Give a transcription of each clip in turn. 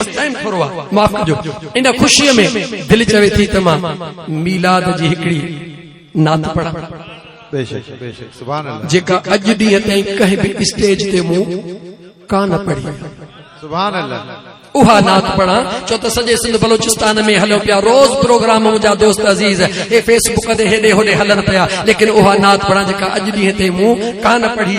Case time ٿورو آ معاف ڪجو ان خوشي ۾ دل چوي ٿي ته مان ميلاد جي هڪڙي نعت پڙهان بيشڪ بيشڪ سبحان الله جيڪا اڄ ڏينهن تائين ڪنهن به اسٽيج تي مون ڪانه پڙهي سبحان الله اها نعت پڙھا چو ته سڄي سنڌ بلوچستان ۾ هليو پيا روز پروگرام منهنجا دوست عزيز اي فيس بڪ تي هيڏي هوڏي هلن پيا ليڪن اها نعت پڙھا جيڪا اڄ ڏينهن تي مون ڪانه پڙھي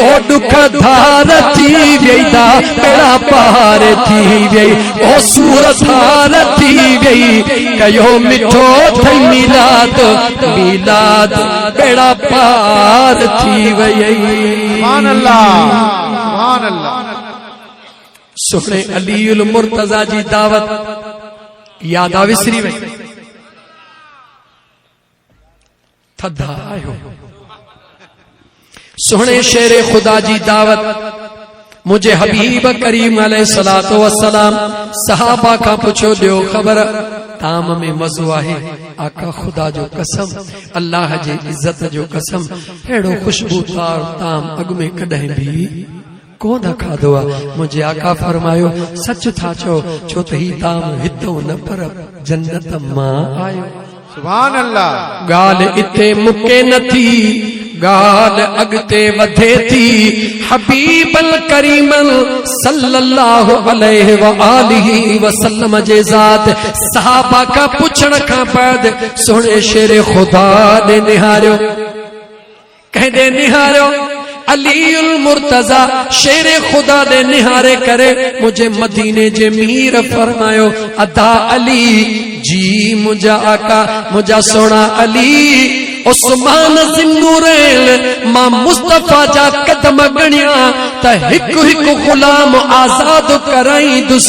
او ڏک ڌار ٿي ويئي دا ٻيڙا پار ٿي ويئي او سور ٿار ٿي ويئي ڪيو مٺو ٿي ميلاد ميلاد ٻيڙا پار ٿي ويئي سبحان الله سبحان الله سهڻي علي المرتضی جي دعوت يادا وسري وئي ٿڌا آهيو سهڻي شير خدا جي دعوت منهنجي حبيب ڪريم عليه الصلاه والسلام صحابه کان پڇيو ڏيو خبر تام ۾ مزو آهي آقا خدا جو قسم الله جي عزت جو قسم اهڙو خوشبودار تام اڳ ۾ ڪڏهن به ڪونه کاڌو آ منهنجي آقا فرمايو سچ ٿا چئو ڇو ته هي طعام هتئون نه پر جنت مان آيو سبحان الله ڳالهه اتي مڪي نه ٿي ڳالهه اڳتي وڌي ٿي حبيب الڪريم صلي الله عليه واله وسلم جي ذات صحابه کا پڇڻ کان بعد سهڻي شير خدا ڏي نهاريو ڪنهن ڏي نهاريو؟ علي المرتضيٰ شير خدا ڏي نهاري ڪري منهنجي مديني جي مير فرمايو ادا علي جي منهنجا آقا منهنجا سهڻا علي عثمان ذنورين مان مصطفيٰ جا قدم ڳڻيا ته هڪ هڪ غلام آزاد ڪرائيندس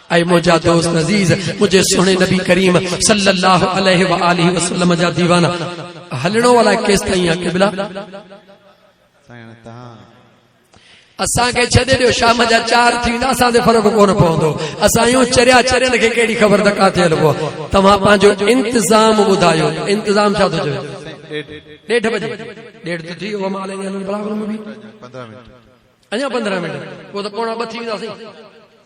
اي منهنجا دوست عزيز منهنجي سهڻي نبي ڪريم صلي الله عليه واله وسلم جا ديوانا هلڻو الاء ڪيستائين آ قبلا سائين تهان اسان کي ڇڏي ڏيو شام جا 4 ٿي ويندا اسان تي فرق ڪون پوندو اسان يو چريا چرين کي ڪهڙي خبر ته ڪاٿي هلبو توهان پنهنجو انتظام ٻڌايو انتظام ڇا ٿو چوي ڏيڍ بجي ڏيڍ ته ٿي ويو مالين بلاغ ۾ 15 منٽ اڃا پندرهن منٽ پوء ته پوڻا ٻه ٿي ويندا سائين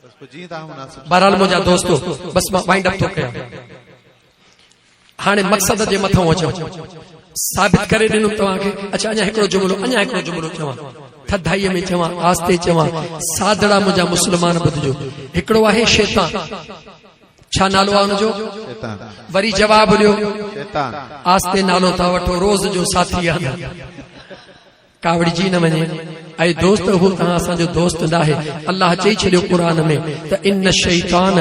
بس پوء جيئن توهان مناسب بهرحال منهنجا دوستو بس مان وائنڊ اپ ٿو ڪيان هاڻي مقصد جي مٿان اچان ثابت ڪري ڏنم توهان کي اچا اڃا هڪڙو جملو اڃا هڪڙو جملو چوان ٿڌائي ۾ چوان آستي چوان سادڙا منهنجا مسلمان ٻڌجو هڪڙو آهي شيطان ڇا نالو آ ان جو شيطان وري جواب ڏيو شيطان آستي نالو ٿا وٺو روز جو ساٿي آ ڪاوڙجي نه وڃي اي دوست هو توهان اسان جو دوست ناهي الله چئي ڇڏيو قرآن ۾ ته ان شيطان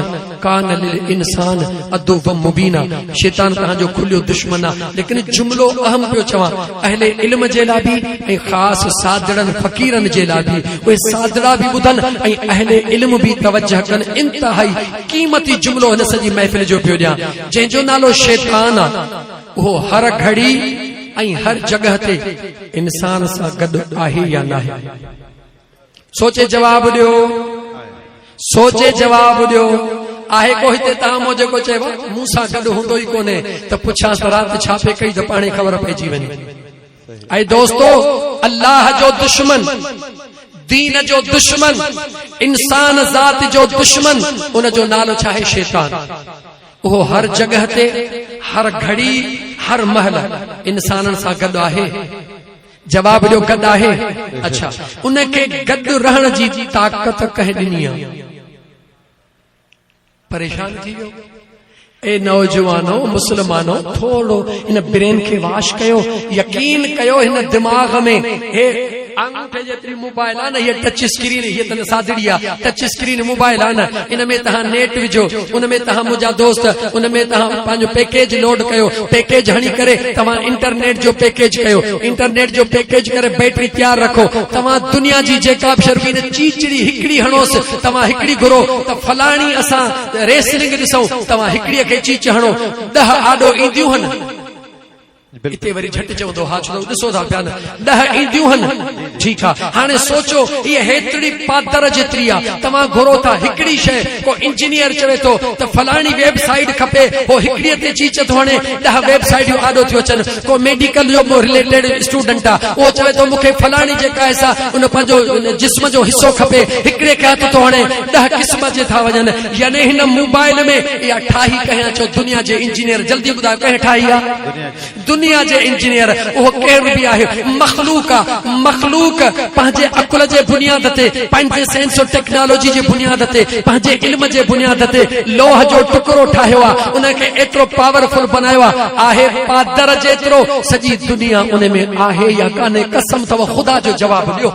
ڪان للانسان عدو مبينا شيطان توهان جو کليو دشمن آهي ليڪن جملو اهم پيو چوان اهل علم جي لاء به ۽ خاص سادڙن فقيرن جي لاء به اهي سادڙا به ٻڌن ۽ اهل علم به توجه ڪن انتهائي قيمتي جملو هن سڄي محفل جو پيو ڏيان جنهن جو نالو شيطان آهي اهو هر گهڙي ۽ هر جڳهه تي انسان سان گڏ آهي يا ناهي؟ سوچي جواب ڏيو. سوچي جواب ڏيو. آهي ڪو هتي تان مون جيڪو چيو مون سان گڏ هوندو ئي ڪونهي ته پڇانس ته رات ڇا پئي ڪئي ته پاڻهي خبر پئجي وڃي اي دوستو! الله جو دشمن، دين جو دشمن، انسان ذات جو دشمن ان جو نالو ڇا آهي؟ شيطان. اهو هر جڳهه تي، هر گهڙي، هر مهل انسانن سان گڏ آهي. جواب ڏيو گڏ آهي؟ اڇا ان کي گڏ رهڻ جي طاقت ڪنهن ڏني آهي؟ پريشان ٿي ويو اي نوجوانو مسلمانو ٿورو ان برين کي واش ڪيو يقين ڪيو هن دماغ ۾ هي آنگوٺي جيتري موبائل آ نه هي ٽچ اسڪرين هي تن سادڙي آ ٽچ اسڪرين موبائل آ نه ان ۾ تهان نيٽ وجھو ان ۾ تهان مجا دوست ان ۾ تهان پنهنجو پيڪيج لوڊ ڪيو پيڪيج هڻي ڪري تهان انٽرنيٽ جو پيڪيج ڪيو انٽرنيٽ جو پيڪيج ڪري بيٽري تيار رکو تهان دنيا جي جيڪا به شربين چيچڙي هڪڙي هڻوس توهان هڪڙي گهرو ته فلاڻي اسان ريسلنگ ڏسون توهان هڪڙي کي چيچ هڻو ڏهه آڏو اينديون هن. اتي وري جهٽ چوندو ها ڇو ڏسو ٿا پيا نه ڏهه اينديون هن ٺيڪ آ هاڻي سوچو هي هيتري پادر جيتري آ توهان گهرو ٿا هڪڙي شي ڪو انجنيئر چوي ٿو ته فلاڻي ويب سائيٽ کپي هو هڪڙي تي چيچ ٿو هڻي ڏهه ويب سائيٽيون آڏو ٿيون اچن ڪو ميڊيڪل جو ڪو رليٽيڊ اسٽوڊنٽ آ اهو چوي ٿو مون کي فلاڻي جيڪا آهي سا ان پنهنجو جسم جو حصو کپي هڪڙي کي هٿ ٿو هڻي ڏهه قسم جي ٿا وڃن يعني هن موبائل ۾ اها ٺاهي ڪنهن اچو دنيا جي انجنيئر جلدي ٻڌايو ڪنهن ٺاهي آ دنيا جي انجنيئر اهو ڪير به آهي مخلوق آ مخلوق پنهنجي عقل جي بنياد تي پنهنجي سائنس ۽ ٽيڪنالاجي جي بنياد تي پنهنجي علم جي بنياد تي لوهه جو ٽڪرو ٺاهيو آ ان کي ايترو پاورفل بنايو آ آهي پادر جيترو سڄي دنيا ان ۾ آهي يا ڪانهي قسم اٿو خدا جو جواب ڏيو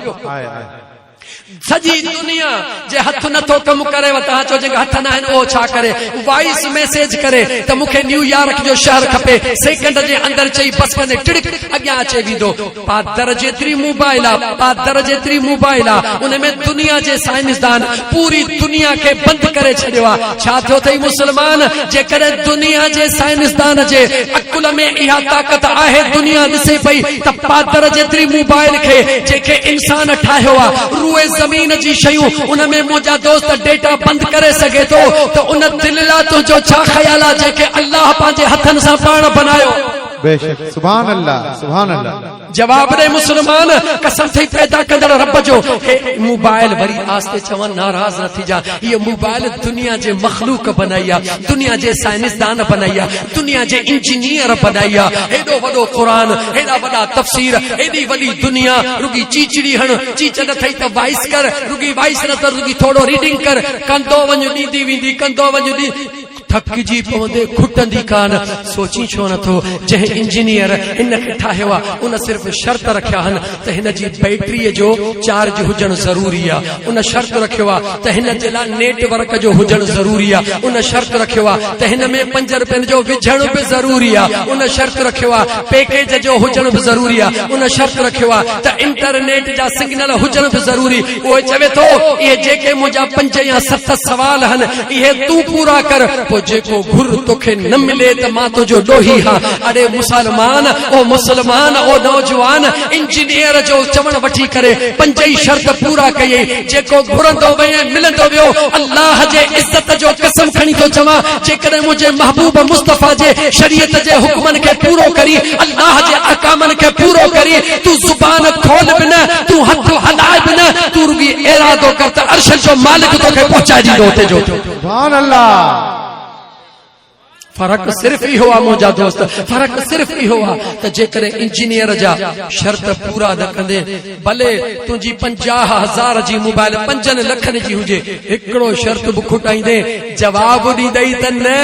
سڄي دنيا جي هٿ نٿو ڪم ڪري وتا چو جي هٿ نه آهن او ڇا ڪري وائس ميسج ڪري ته مونکي نيويارڪ جو شهر کپي سيڪنڊ جي اندر چئي بس ڪني ٽڙڪ اڳيان اچي ويندو پادر جيتري موبائل آ پادر جيتري موبائل آ ان ۾ دنيا جي سائنسدان پوري دنيا کي بند ڪري ڇڏيو آ ڇا ٿيو ٿئي مسلمان جيڪڏهن دنيا جي سائنسدان جي عقل ۾ اها طاقت آهي دنيا ڏسي پئي ته پادر جيتري موبائل کي جنهن کي انسان ٺاهيو آ روئي زمين جي شيون ان ۾ منهنجا دوست ڊيٽا بند ڪري سگهي ٿو ته ان دل لا تنهنجو ڇا خيال آ جنهن کي الله پنهنجي هٿن سان پاڻ بنايو. بيشڪ سبحان الله سبحان الله. جواب ڏي مسلمان قسم ٿئي پيدا ڪندڙ رب جو هي موبائل وري آستي چون ناراض نه ٿيجا هي موبائل دنيا جي مخلوق بنائي آ دنيا جي سائنسدان بنائي آ دنيا جي انجنيئر بنائي آ هيڏو وڏو قرآن هيڏا وڏا تفسير هيڏي وڏي دنيا رڳي چيچڙي هڻ چيچ نه ٿئي ته وائس ڪر رڳي وائس نه ته رڳي ٿورو ريڊنگ ڪر ڪندو وڃ ڏيندي ويندي ڪندو وڃ ٿڪجي پوندي کٽندي ڪان، سوچين ڇو نه ٿو، جنهن انجنيئر ان کي ٺاهيو آهي، ان صرف شرط رکيا آهن ته هن جي بيٽريء جو چارج هجڻ ضروري آهي، ان شرط رکيو آهي ته هن جي لاء نيٽ ورڪ جو هجڻ ضروري آهي، ان شرط رکيو آهي ته هن ۾ پنج رپين جو وجهڻ به ضروري آهي، ان شرط رکيو آهي پيڪيج جو هجڻ به ضروري آهي، ان شرط رکيو آهي ته انٽرنيٽ جا سگنل هجڻ به ضروري، اهو چوي ٿو، اهي جيڪي منهنجا پنج يا ست سوال آهن، اهي تون پورا ڪر، پوء جيڪو گهر توکي نه ملي ته مان تنهنجو ڏوهي هان. اڙي مسلمان، او مسلمان، او نوجوان انجنيئر جو چوڻ وٺي ڪري پنج ئي شرط پورا ڪيئي، جيڪو گهرندو وئين ملندو ويو، الله جي عزت جو قسم کڻي ٿو چوان، جيڪڏهن منهنجي محبوب مصطفيٰ جي شريعت جي حڪمن کي پورو ڪرين، الله جي احڪامن کي پورو ڪرين تون زبان کول به نه تون هٿ هلاء به نه تون رڳي ارادو ڪر ته عرش جو مالڪ توکي پهچائي ڏيندو اتي جو سبحان الله فرق صرف اهو آ منهنجا دوست فرق صرف اهو آ ته جيڪڏهن انجنيئر جا شرط پورا نه ڪندي ڀلي تنهنجي پنجاهه هزار جي موبائل پنجن لکن جي هجي، هڪڙو شرط به کوٽائيندين، جواب ڏيندئي ته نه،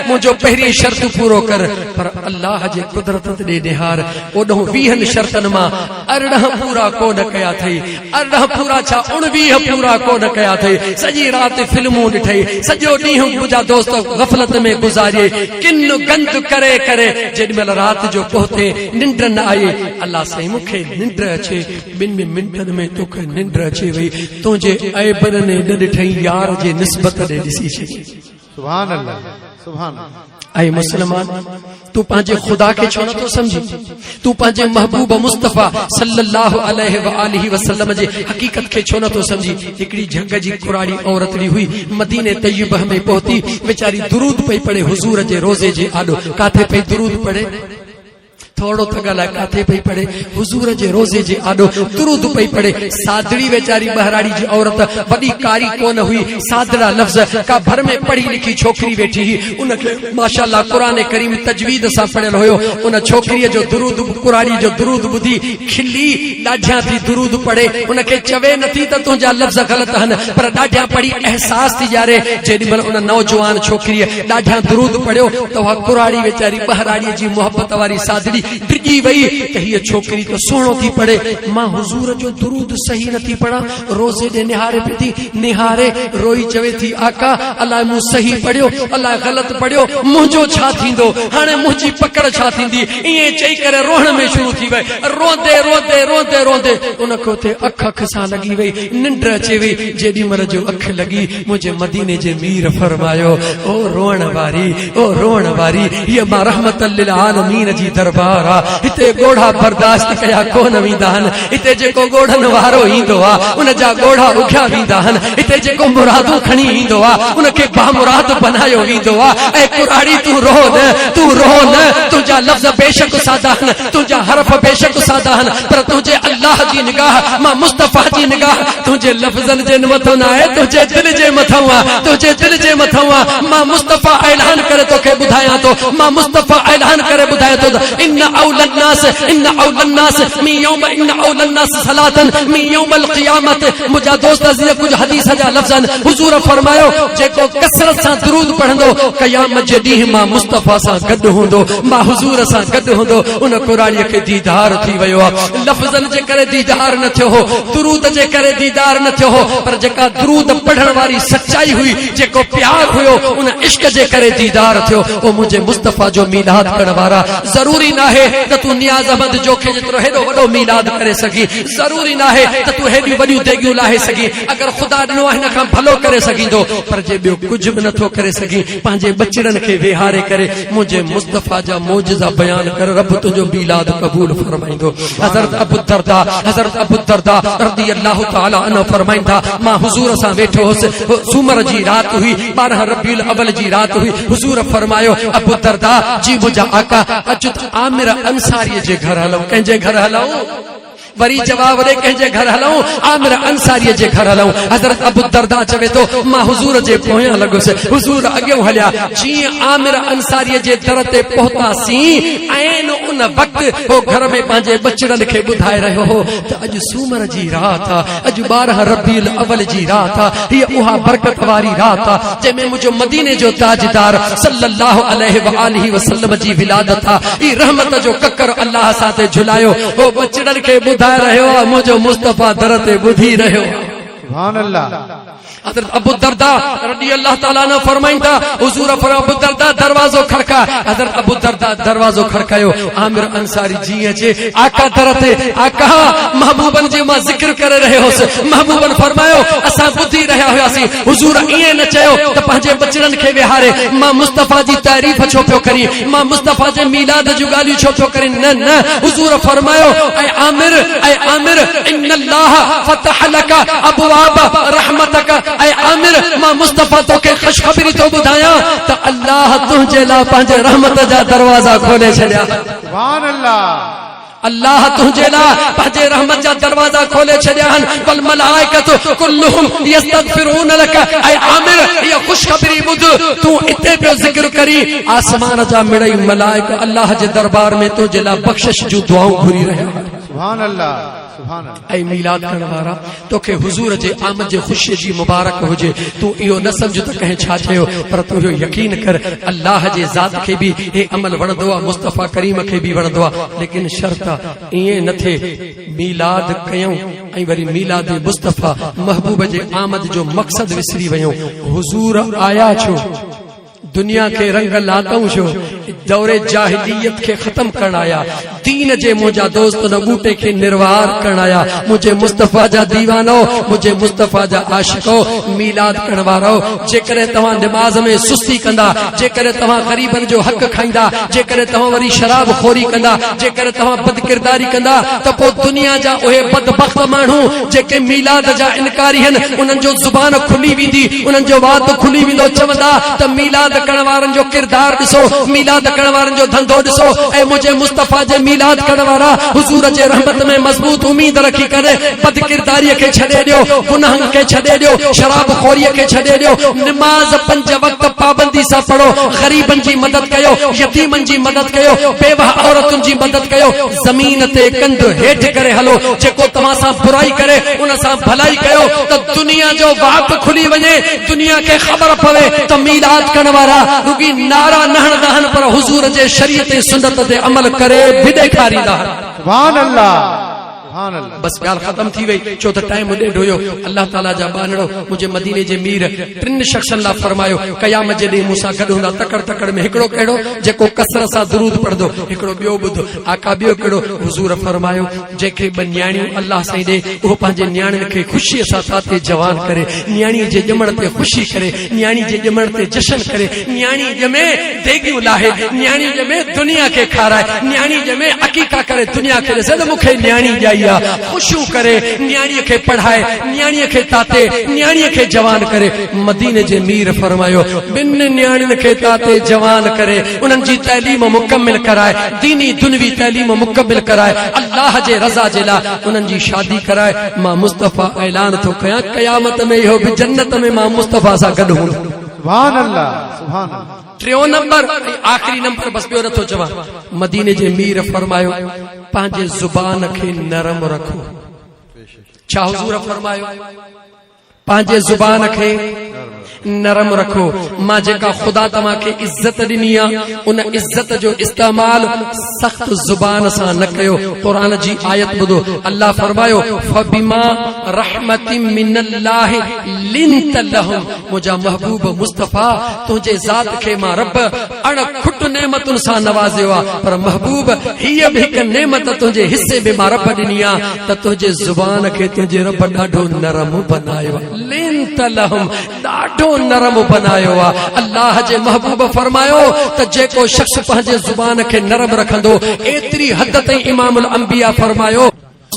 منهنجو پهرين شرط پورو ڪر. پر الله جي قدرت ڏي نهار، اوڏهون ويهن شرطن مان ارڙهن پورا ڪو نه ڪيا اٿئي. ارڙهن پورا ڇا، اڻويهه پورا ڪو نه ڪيا اٿئي. سڄي رات فلمون ڏٺئي، سڄو ڏينهن منهنجا دوست غفلت ۾ گذاريئي، ڪن گند ڪري ڪري جيڏي مهل رات جو پهتين، ننڊ نه آئي. الله سائين مون کي. ننڊ اچي ٻن منٽن ۾ توکي ننڊ اچي وئي تنهنجي عيبن ني نه ڏٺئي يار جي نسبت ڏي ڏسي ڇڏي سبحان الله سبحان الله اي مسلمان تون پنهنجي خدا کي ڇو نٿو سمجھين تون پنهنجي محبوب مصطفي صلي الله عليه واله وسلم جي حقيقت کي ڇو نٿو سمجھين هڪڙي جھنگ جي ڪراڙي عورت لي هئي مدينه طيبه ۾ پهتي ويچاري درود پئي پڙهي حضور جي روزي جي آڏو ڪاٿي پئي درود پڙهي ٿورڙو ٿڳ الائي ڪاٿي پئي پڙهي حضور جي روضي جي آڏو درود پئي پڙهي سادڙي ويچاري ٻهراڙي جي عورت وڏي ڪاري ڪون هئي سادڙا لفظ ڪا ڀر ۾ پڙهي لکي ڇوڪري ويٺي هئي ان کي ماشاءالله قرآن ڪريم تجويد سان پڙهيل هيو ان ڇوڪريء جو درود ڪراڙي جو درود ٻڌي کلي ڏاڍيان ٿي درود پڙهي ان کي چوي نٿي ته تنهنجا لفظ غلط هن پر ڏاڍيان پڙهي احساس ٿي ڄاري جيڏي مهل ان نوجوان ڇوڪريء ڏاڍا درود پڙهيو ته اها ڪراڙي ويچاري ٻهراڙيء جي محبت واري ساڌڙي ڊڄي وئي ته هيء ڇوڪري ته سهڻو ٿي پڙهي، مان حضور جو درود صحيح نه ٿي پڙهان، روزي ڏي نهاري پئي ٿي، نهاري، روئي چوي ٿي، آقا! الاء مون صحيح پڙهيو، الاء غلط پڙهيو، منهنجو ڇا ٿيندو، هاڻي منهنجي پڪڙ ڇا ٿيندي؟ ائين چئي ڪري روئڻ ۾ شروع ٿي وئي. روئندي روئندي روئندي روئندي ان کي اتي اک اک سان لڳي وئي، ننڊ اچي وئي، جيڏي مهل جو اک لڳي، منهنجي مديني جي مير فرمايو او روئڻ واري او روئڻ واري هي ما رحمت للعالمين جي دربار آ هتي ڳوڙها برداشت ڪيا ڪون ويندا هن هتي جيڪو ڳوڙهن وارو ايندو آ ان جا ڳوڙها اگهيا ويندا هن هتي جيڪو مرادون کڻي ايندو آ ان کي بامراد بنايو ويندو آ اي ڪراڙي تون روء نه تون روء نه تنهنجا لفظ بيشڪ سادا هن تنهنجا حرف بيشڪ سادا آهن پر تنهنجي الله جي نگاهه مان مصطفيٰ جي نگاهه تنهنجي لفظن جي مٿو نه آهي تنهنجي دل جي مٿئون آ تنهنجي دل جي مٿئون آ مان مصطفيٰ اعلان ڪري توکي ٻڌايان ٿو مان مصطفيٰ اعلان ڪري ٻڌايان ٿو ته ان اولي الناس ان اولي الناس مي يوم ان اولي الناس صلاتن مي يوم القيامت مجا دوست عزيز ڪجھ حديث جا لفظن حضور فرمايو جيڪو ڪثرت سان درود پڙهندو قيامت جي ڏينهن مان مصطفيٰ سان گڏ هوندو مان حضور سان گڏ هوندو ان قرآنيء کي ديدار ٿي ويو آ لفظن جي ڪري ديدار نه ٿيو هو درود جي ڪري ديدار نه ٿيو هو پر جيڪا درود پڙهڻ واري سچائي هئي جيڪو پيار هيو ان عشق جي ڪري ديدار ٿيو او منهنجي مصطفيٰ جو ميلاد ڪرڻ وارا ضروري ناهي ته تون نياز احمد جوکي جيترو هيڏو وڏو ميلاد ڪري سگهي ضروري ناهي ته تون هيڏيون وڏيون ديڳيون لاهي سگهي اگر خدا ڏنو آهي ان کان ڀلو ڪري سگهيندو پر جي ٻيو ڪجهه به نه ٿو ڪري سگهي پنهنجي ٻچڙن کي ويهاري ڪري منهنجي مصطفيٰ جا معجزا بيان ڪر رب تنهنجو ميلاد قبول فرمائيندو حضرت ابوالدرداء حضرت ابوالدرداء رضي الله تعالٰي عنه فرمائن ٿا مان حضور سان ويٺو هوس سومر جي رات هئي ٻارهن ربيع الاول جي رات هئي حضور فرمايو ابوالدرداء جي منهنجا آقا اچ ته عامر انصاري جي گهر هلون ڪنهن جي گهر هلون وري جواب ڏي ڪنهن جي گهر هلئون؟ عامر انصاريء جي گهر هلئون. حضرت ابوالدرداء چوي ٿو، مان حضور جي پويان لڳس، حضور اڳيئون هليا. جيئن عامر انصاريء جي در تي پهتاسين، عين ان وقت هو گهر ۾ پنهنجي ٻچڙن کي ٻڌائي رهيو هو ته اڄ سومر جي رات آ، اڄ ٻارهن ربيع الاول جي رات آ، هيء اها برڪت واري رات آ، جنهن ۾ منهنجو مديني جو تاجدار صلّي الله عليه واٰله وسلّم جي ولادت آ. هي رحمت جو ڪڪر الله اسان تي جهلايو. هو ٻچڙن کي ٻڌائي رهيو آ، منهنجو مصطفيٰ در تي ٻڌي رهيو آ. سبحان الله! حضرت ابوالدرداء رضي الله تعالٰي عنه فرمائن ٿا، حضور فرمايو ابوالدرداء دروازو کڙڪاء، حضرت ابوالدرداء دروازو کڙڪايو، عامر انصاري جيئن اچي آقا در تي، آقا! محبوبن جي مان ذڪر ڪري رهيو هوس، محبوبن فرمايو، اسان ٻڌي رهيا هياسين، حضور ائين نه چيو ته پنهنجي ٻچڙن کي ويهاري مان مصطفيٰ جي تعريف ڇو پيو ڪرين؟ امام مصطفيٰ جي ميلاد جون ڳالهيون ڇو ٿو ڪرين؟ نه نه، حضور فرمايو، اي عامر، اي عامر، ان الله فتح لك ابواب رحمتك، اي عامر، مان مصطفيٰ توکي خوشخبري ٿو ٻڌايان ته الله تنهنجي لاء پنهنجي رحمت جا دروازا کولي ڇڏيا. سبحان الله. الله تنهنجي لاء پنهنجي رحمت جا دروازا کولي ڇڏيا آهن، والملائڪة ڪلهم يستغفرون لك اي عامر هيء خوشخبري ٻڌ، تون اتي پيو ذڪر ڪرين، آسمان جا مڙئي ملائڪ الله جي دربار ۾ تنهنجي لاء بخشش جون دعائون گهري رهيا آهن. سبحان الله سبحان الله. اي ميلاد ڪرڻ وارا! توکي حضور جي آمد جي خوشي جي مبارڪ هجي تون اهو نه سمجهه ته ڪنهن ڇا چيو پر تون اهو يقين ڪر الله جي ذات کي به هي عمل وڻندو آهي مصطفيٰ ڪريم کي به وڻندو آهي ليڪن شرط آهي ائين نه ٿئي ميلاد ڪيون ۽ وري ميلاد مصطفيٰ محبوب جي آمد جو مقصد وسري ويون حضور آيا ڇو دنيا کي رنگ لاتئون شو دور جاهليت کي ختم ڪرڻ آيا دين جي منهنجا دوست نه ٻوٽي کي نروار ڪرڻ آيا منهنجي مصطفيٰ جا ديوانو منهنجي مصطفيٰ جا عاشقو ميلاد ڪرڻ وارو جيڪڏهن توهان نماز ۾ سستي ڪندا جيڪڏهن توهان غريبن جو حق کائيندا جيڪڏهن توهان وري شراب خوري ڪندا جيڪڏهن توهان بد ڪرداري ڪندا ته پوء دنيا جا اهي بدبخت ماڻهو جيڪي ميلاد جا انڪاري هن انهن جو زبان کلي ويندي انهن جو وات کلي ويندو چوندا ته ميلاد ڪرڻ وارن جو ڪردار ڏسو ميلاد ڪرڻ وارن جو ڌنڌو ڏسو اي منهنجي مصطفيٰ جي ميلاد ڪرڻ وارا حضور جي رحمت ۾ مضبوط اميد رکي ڪري بدڪرداري کي ڇڏي ڏيو گناهن کي ڇڏي ڏيو شراب خوري کي ڇڏي ڏيو نماز پنج وقت پابندي سان پڙهو غريبن جي مدد ڪيو يتيمن جي مدد ڪيو بيوهه عورتن جي مدد ڪيو زمين تي ڪنڌ هيٺ ڪري هلو، جيڪو توهان سان برائي ڪري ان سان ڀلائي ڪيو ته دنيا جو واڪ کلي وڃي، دنيا کي خبر پوي ته ميلاد ڪرڻ وارا رڳي نعرا نه هڻندا آهن پر حضور جي شريعت ۽ سنت تي عمل ڪري به ڏيکاريندا آهن. سبحان الله سبحان الله. بس ڳالهه ختم ٿي وئي ڇو ته ٽائيم ڏيڍ هيو الله تعالي جا ٻانهڙو منهنجي مديني جي مير ٽن شخصن لاء فرمايو قيامت جي ڏينهن مون سان گڏ هوندا تڪڙ تڪڙ ۾ هڪڙو ڪهڙو جيڪو ڪثرت سان درود پڙهندو هڪڙو ٻيو ٻڌ آقا ٻيو ڪهڙو حضور فرمايو جنهن کي ٻه نياڻيون الله سائين ڏي اهو پنهنجي نياڻين کي خوشي سان ساتي جوان ڪري نياڻي جي ڄمڻ تي خوشي ڪري نياڻي جي ڄمڻ تي جشن ڪري، نياڻي ڄمي ديڳيون لاهي، نياڻي ڄمي دنيا کي کارائي، نياڻي ڄمي عقيقا ڪري دنيا کي ڏسي ته مون کي نياڻي ڄائي آ، خوشيون ڪري، نياڻي کي پڙهائي، نياڻي کي تاتي، نياڻي کي جوان ڪري. مديني جي مير فرمايو، ٻن نياڻين کي تاتي، جوان ڪري، انهن جي تعليم مڪمل ڪرائي، ديني دنيوي تعليم مڪمل ڪرائي، الله جي رضا جي لاء انهن جي شادي ڪرائي، مان مصطفيٰ اعلان ٿو ڪيان قيامت ۾ اهو به جنت ۾ مان مصطفيٰ سان گڏ هوندو سبحان الله سبحان الله ٽيون نمبر آخري نمبر بس ٻيو نٿو چوان مديني جي مير فرمايو پنهنجي زبان کي نرم رکو ڇا حضور فرمايو پنهنجي زبان کي نرم رکو مان جيڪا خدا توهان کي عزت ڏني آ ان عزت جو استعمال سخت زبان سان نه ڪيو قرآن جي آيت ٻڌو الله فرمايو فبما رحمت من الله لنت لهم منهنجا محبوب مصطفي تنهنجي ذات کي مان رب اڻ کٽ نعمتن سان نوازيو آ پر محبوب هي به هڪ نعمت تنهنجي حصي ۾ مان رب ڏني آ ته تنهنجي زبان کي تنهنجي رب ڏاڍو نرم بنايو آهي لنت لهم ڏاڍو نرم بنايو آهي الله جي محبوب فرمايو ته جيڪو شخص پنهنجي زبان کي نرم رکندو ايتري حد تائين امام الانبياء فرمايو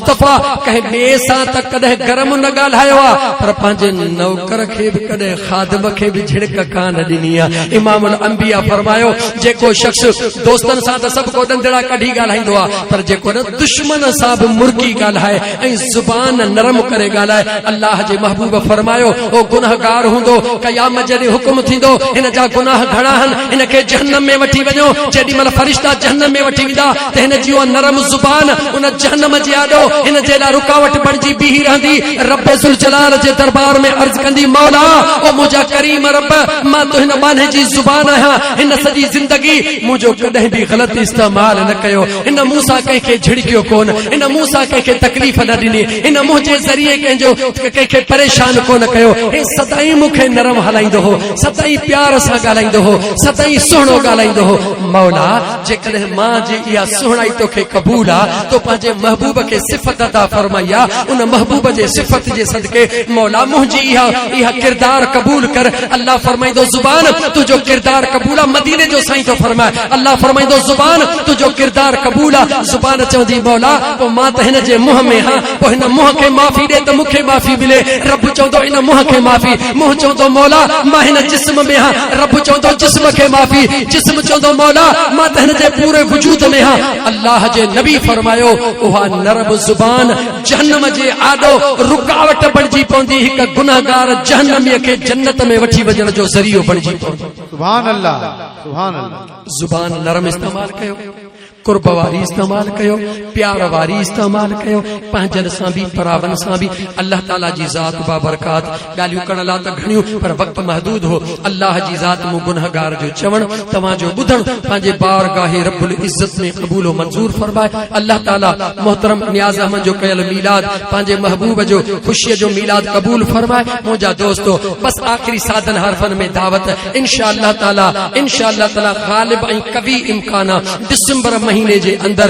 مصطفيٰ ڪنهن ٻئي سان ته ڪڏهن گرم نه ڳالهايو آهي پر پنهنجي نوڪر کي به ڪڏهن خادم کي به جھڙڪ ڪانه ڏني آهي امام الانبياء فرمايو جيڪو شخص دوستن سان ته سڀ ڪو ڏندڙا ڪڍي ڳالهائيندو آهي پر جيڪو نه دشمن سان به مرڪي ڳالهائي ۽ زبان نرم ڪري ڳالهائي الله جي محبوب فرمايو او گنهگار هوندو قيامت جي ڏينهن حڪم ٿيندو هن جا گناهه گهڻا هن هن کي جهنم ۾ وٺي وڃو جيڏي مهل فرشتا جهنم ۾ وٺي ويندا ته هن جي اها نرم زبان ان جهنم جي آڏو هن جي لاء رڪاوٽ بڻجي بيهي رهندي رب ذوالجلال جي دربار ۾ عرض ڪندي مولا او منهنجا ڪريم رب مان تنهن ٻانهي جي زبان آهيان هن سڄي زندگي مون جو ڪڏهن به غلط استعمال نه ڪيو ان مون سان ڪنهن کي جهڙڪيو ڪونه ان مون سان ڪنهن کي تڪليف نه ڏني ان منهنجي ذريعي ڪنهن جو ڪنهن کي پريشان ڪونه ڪيو هي سدائين مون کي نرم هلائيندو هو سدائين پيار سان ڳالهائيندو هو سدائين سهڻو ڳالهائيندو هو مولا جيڪڏهن مان جي اها سهڻائي توکي قبول آ، تو پنهنجي محبوب کي صفت عطا فرمائي آ، ان محبوب جي صفت جي صدقي مولا منهنجي اها اها ڪردار قبول ڪر، الله فرمائيندو زبان! تنهنجو ڪردار قبول آ، مديني جو سائين ٿو فرمائي، الله فرمائيندو زبان! تنهنجو ڪردار قبول آ، زبان چوندي مولا! پوء مان ته هن جي منهن ۾ هان. پوء هن منهن کي معافي ڏي ته مون کي معافي ملي. رب چوندو ان منهن کي معافي. منهن چوندو مولا مان هن جسم ۾ هان. رب چوندو جسم کي معافي. جسم چوندو مولا مان ته هن جي پوري وجود ۾ هان. الله جي نبي فرمايو اها نرم زبان جهنم جي آڏو رڪاوٽ بڻجي پوندي هڪ گنهگار جهنمي کي جنت ۾ وٺي وڃڻ جو ذريعو بڻجي پوندي. سبحان الله سبحان الله. زبان نرم استعمال ڪيو. قرب واري استعمال ڪيو پيار واري استعمال ڪيو پنهنجن سان به پراون سان به الله تعالي جي ذات بابرڪات ڳالهيون ڪرڻ لا ته گهڻيون پر وقت محدود هو الله جي ذات مون گنهگار جو چوڻ توهان جو ٻڌڻ پنهنجي بارگاهه رب العزت ۾ قبول و منظور فرمائي الله تعالي محترم نياز احمد جو ڪيل ميلاد پنهنجي محبوب جو خوشي جو ميلاد قبول فرمائي منهنجا دوستو بس آخري سادن حرفن ۾ دعوت ته انشاء الله تعالي انشاء الله تعالي غالب ۽ قوي امڪان آ ڊسمبر مهيني جي اندر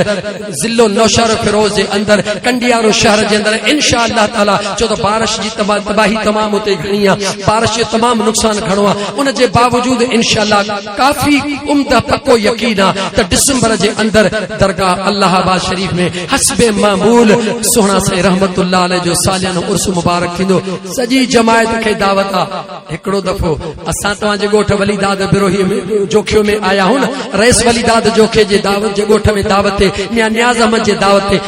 ضلعو نوشهرو فيروز جي اندر ڪنڊيارو شهر جي اندر انشاء الله تعالي ڇو ته بارش جي تباهي تمام اتي گهڻي آ بارش جو تمام نقصان گهڻو آ ان جي باوجود انشاء الله ڪافي عمده پڪو يقين آ ته ڊسمبر جي اندر درگاهه الله آباد شريف ۾ حسب معمول سهڻا سائين رحمت الله عليه جو ساليانو عرس مبارڪ ٿيندو سڄي جماعت کي دعوت آ هڪڙو دفعو اسان توهان جي ڳوٺ ولي داد بروهي ۾ جوکيو ۾ آيا هون رئيس ولي داد جوکي جي دعوت جي ڳوٺ ۾ دعوت تي ميان نياز احمد جي دعوت تي